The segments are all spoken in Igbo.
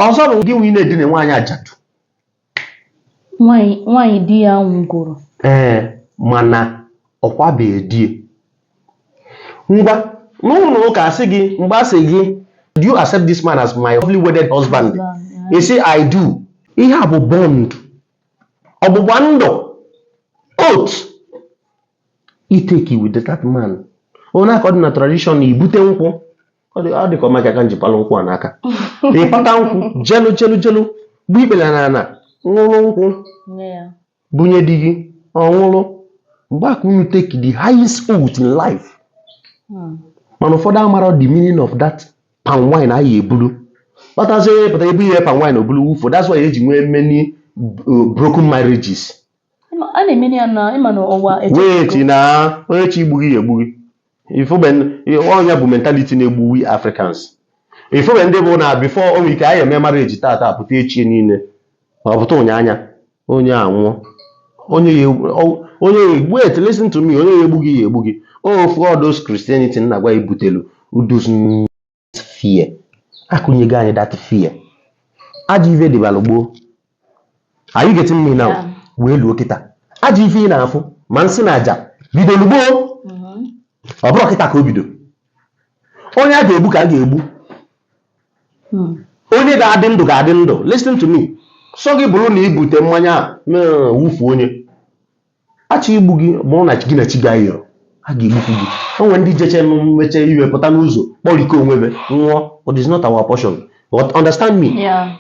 ọzọ bụ gịnwa na-edina nwaanyị ajadu nwaanyị di ya nwụgoro ee mana ọ kwabeghị di ngwa n'ụnọ ụka a sị gị mgbe a sị gị do you accept this man as my lovely wedded husband ị sị i do ihe a bụ bond ọgbụgba ndụ oath i take with that man ọnya ka ọ dị na tradition i bute nkwụ ọ dịka ọma aka nji palụ nkwụ a n'aka ị pata nkwụ jelu jelu jelu gbue ikpere n'ana ṅụrụ nkwụ bunye di gị ọ ṅụrụ mgbe a ka unu take the highest oath in life hmm. mana ụfọdụ amarọ the meaning of that palm wine anyị ebulu kpatazie pụta e bunye palm wine o bulu wụfuo that's why e ji nwee many uh, broken marriages Ịma- a na-emeri ya na ịma na ụwa eche na onye chi na onye chi egbughị ya egbughị ị fụbe ọnya bụ mentality na-egbu we africans ị fụbe ndị bụ na before o nwe ike anyị eme mara e ji tata pụta echi niile ma ọ pụta ụnyaanya onye a nwụọ onye ya egbu- ọ- onye ya egbu et listen to me onye ya egbughị ya egbughị of course christianity nna gwa ibutelu udus fear akụnyego anyị that fear ajọ ife dịbalụ gboo are you getting me now Yeah. wee luo kịta ajọ ife ị na-afụ ma nsi na aja bidolu gboo Mhm. ọ bụrọ kịta ka o bido onye a ga-egbu ka a ga-egbu Hmm. onye ga-adị ndụ ga-adị ndụ listen to me sọ gị bụrụ na i bute mmanya a na-awụfu onye a chọ igbu gị bụrụ na gị na chi gị ayọrọ a ga-egbukwu gị o nwere ndị jeche nụ mmeche iwe pụta n'ụzọ kpọrikọ onwe be nwụọ but it's not our portion but understand me Yeah.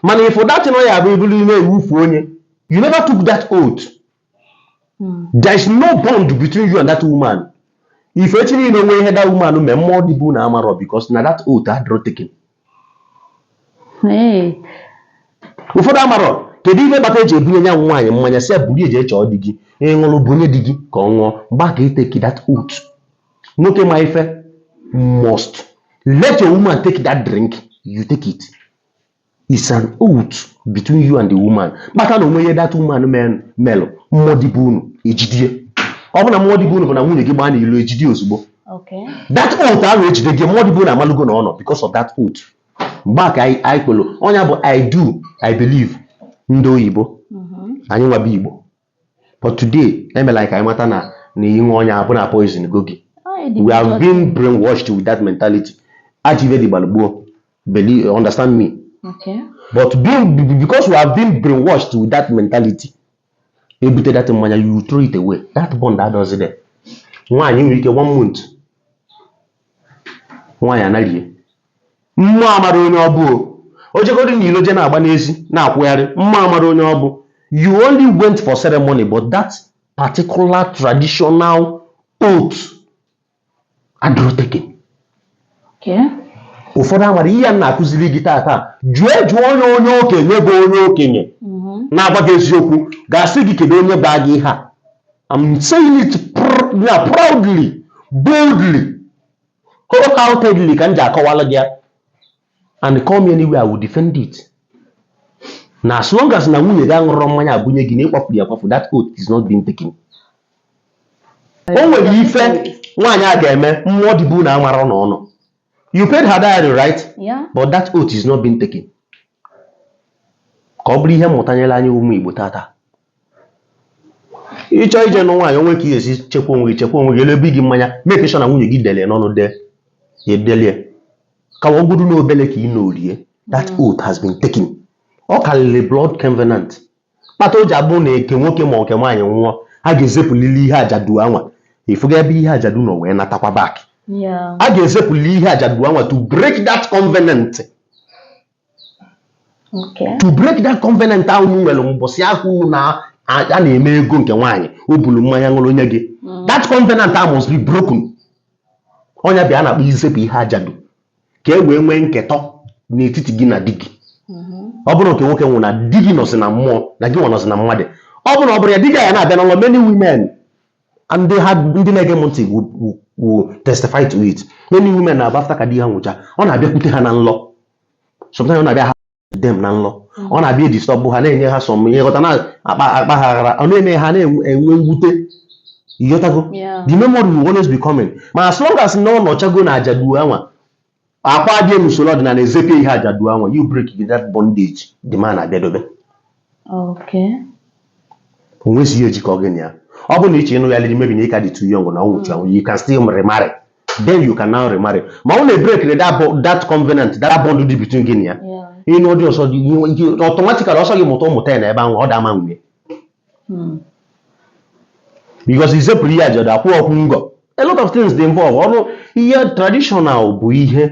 mana if that thing ọ ya bụ i bulu ime wụfuo nya you never took that oath Mm. there is no bond between you and that woman if echi niile o nwee ihe that woman mee mmụọ dị be unu amarọ because na that oath adịrọ taken Ee. ụfọdụ amarọ kedu ife kpata e ji ebunye nya bụ nwaanyị mmanya sị ya buru ya jee chọọ di gị ị ṅụrụ bunye di gị ka ọ ṅụọ mgbe a ka ị take that oath nwoke ma ife must let your woman take that drink you take it it's an oath between you and the woman kpata na o nwee ihe that woman men- melụ mmụọ dị be unu ejidie ọ bụ na mmụọ dị be unu bụ na nwunye gị gbaa n'ilo ejidie ozugbo Okay. that oath ahụ ejide gị mmụọ dị be unu amalugo na ọ nọ because of that oath mgbe a ka anyị anyị kwelu ọnya bụ i do i believe ndị oyibo Mhm. anyị nwa bụ igbo but today e mela anyị ka anyị mata na na ị ṅụọ ọnya bụ na a poisongo gị Ọ dị we have njọ. been brainwashed with that mentality ajọ ife dị gbalụ gboo believe understand me Okay. but being be- because we have been brainwashed with that mentality ebute that mmanya you throw it away that bond adịrọzi there nwaanyị nwere ike one month nwaanyị anaghị mmụọ amara onye ọ bụ o jegoro na ilo je na-agba n'ezi na-akwụgharị mmụọ amara onye ọ bụ you only went for ceremony but that particular traditional oath adịrọ taken ụfọdụ amara ihe a m na-akụziri gị taata jee jụọ onye onye okenye bụ onye okenye mm-hmm. na-agwa gị eziokwu ga-asị gị kedu onye gwara gị ihe a I'm saying it proudly boldly wholeheartedly ka m ji akọwalụ gị ya and call me anywhere I will defend it na as long as na nwunye gị aṅụrọ mmanya ebunye gị na ị kwafuru ya akwafu that oath is not being taken o nwere ife nwaanyị a ga-eme mmụọ dị be unu amara na ọ nọ you paid her dowry right Yeah. but that oath is not being taken ka ọ bụrụ ihe mmụta nyere anyị ụmụ Igbo taata ị chọọ ije nụ nwaanyị o nwe ka ị ga-esi chekwa onwe gị chekwa onwe gị elu ebe gị mmanya make sure na nwunye gị dele n'ọnụ de edelie ka ọ bụrụ na obele ka ị na-orie that oath has been taken ọ karịrị blood covenant kpata o ji abụ na nke nwoke ma nke nwaanyị nwụọ a ga-ezepụlili ihe ajadu anwa ị fụgo ebe ihe ajadu nọ wee natakwa back Yeah. a ga-ezepụli ihe ajadu anwa to break that covenant to break that covenant ahụ unu nwere mbọsị ahụ unu na a na-eme ego nke nwaanyị o bulu mmanya ṅụrụ nye gị mm. that covenant ahụ must be broken ọ nya bụ ihe a na-akpọ izepụ ihe ajadu ka e wee nwee nketọ n'etiti gị na di gị mm-hmm. ọ bụrụ nke nwoke nwụrụ na di gị nọzi na mmụọ na gị nwa nọzi na mmadụ ọ bụrụ na ọ bụrọ ya di gị ya na-abịa na nlọ many women and they had ndị na-ege m ntị will, will, will testify to it many women na-abụ after ka di ha nwụcha ọ na-abịakwute ha na nlọ sometimes ọ na-abịa ha dem na nlọ ọ na-abịa e-disturb ha na-enye ha some ihe ghọta na-akpa akpa ha aghara ọ na-eme ha na-enwe mwute ị ghọtago Yeah. the memory will always be coming ma as long as na ọ nọchago na ajadu anwa Akwa abịa n'usoro ọdịnala ezepụ ihe ajadu anwa, you break gị that bondage the man abịadebe. Okay. O nwezi ihe jikọ gị na ya. Ọ bụrụ na ị chọ ịnụyarị maybe na ị ka dị too young na ọ nwụchi anwụ, you can still remarry. Then you can now remarry. Ma ọ na break the that, bo- that covenant, that bond dị between gị na ya. Yeah. Ị nụọ di ọzọ dị ihe- ihe- automatically ọ sọ gị mụta ụmụta ya na ebe ahụ ọ da ama nwunye. hmm. because isepụrụ ihe ajadu akwụ ọkwụ ngọ a lot of things dị involved ọrụ ihe traditional bụ ihe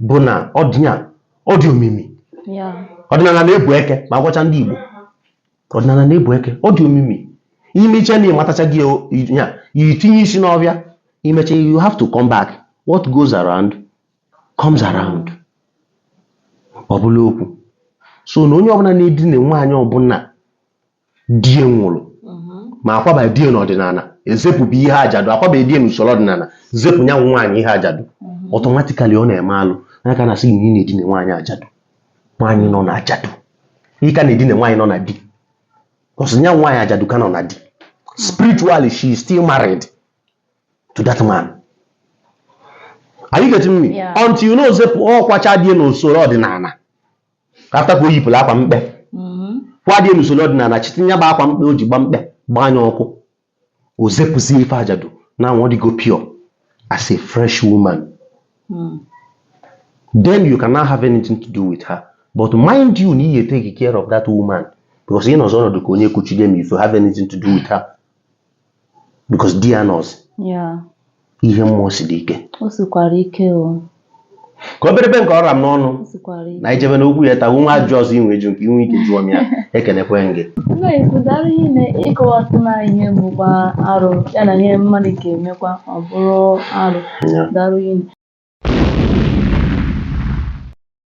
bụ na ọdịnya ọ dị omimi ọdịnala na-ebu eke ma agwacha ndị Igbo ọdịnala na-ebu eke ọ dị omimi ị mee i chee na ị matachago ya i tinye isi n'ọbịa i mecha you have to come back what goes around comes around ọ bụrọ okwu so na onye ọbụla na-edina nwaanyị ọbụla di ya nwụrụ ma akwaba di ya n'ọdịnala ezepụbụ ihe ajadu akwaba di ya n'usoro ọdịnala zepụ ya nwaanyị ihe ajadu automatically ọ na-eme alụ ya ka na-asị gị na ị na-edina nwaanyị ajadu nwaanyị nọ na ajadu ị ka na-edina nwaanyị nọ na di ọ sị ya nwaanyị ajadu ka nọ na di spiritually she is still married to that man are you getting me Yeah. until you know zepụ ọ kwacha di ya n'usoro ọdịnala ka after ka o yipụrụ akwa mkpe kwaa di n'usoro ọdịnala chịtụ ya bụ akwa mkpe o ji gba mkpe gbaa ya ọkụ o zepụzie ife ajadu n'ahụ ọ dịgo pure as a fresh woman then you can now have anything to do with her but mind you na ị ya take care of that woman because ị nọzi ọnọdụ ka onye kuchide m if you have anything to do with her because di ya anọzi ya ihe mmụọ siri ike o sikwara ike o ka oberebe nke ọ ra m n'ọnụ o sikwara ike na i jebe n'okwu ya tawu nwa ajụ ọzọ i nwe eju nke i nwe ike jụọ m ya ekenekwa m gị nna ikwu dara ihe na ị kọwasị na ihe bụkwa arụ ya na ihe mmadụ ga-emekwa ọ bụrụ arụ Ya. dara ihe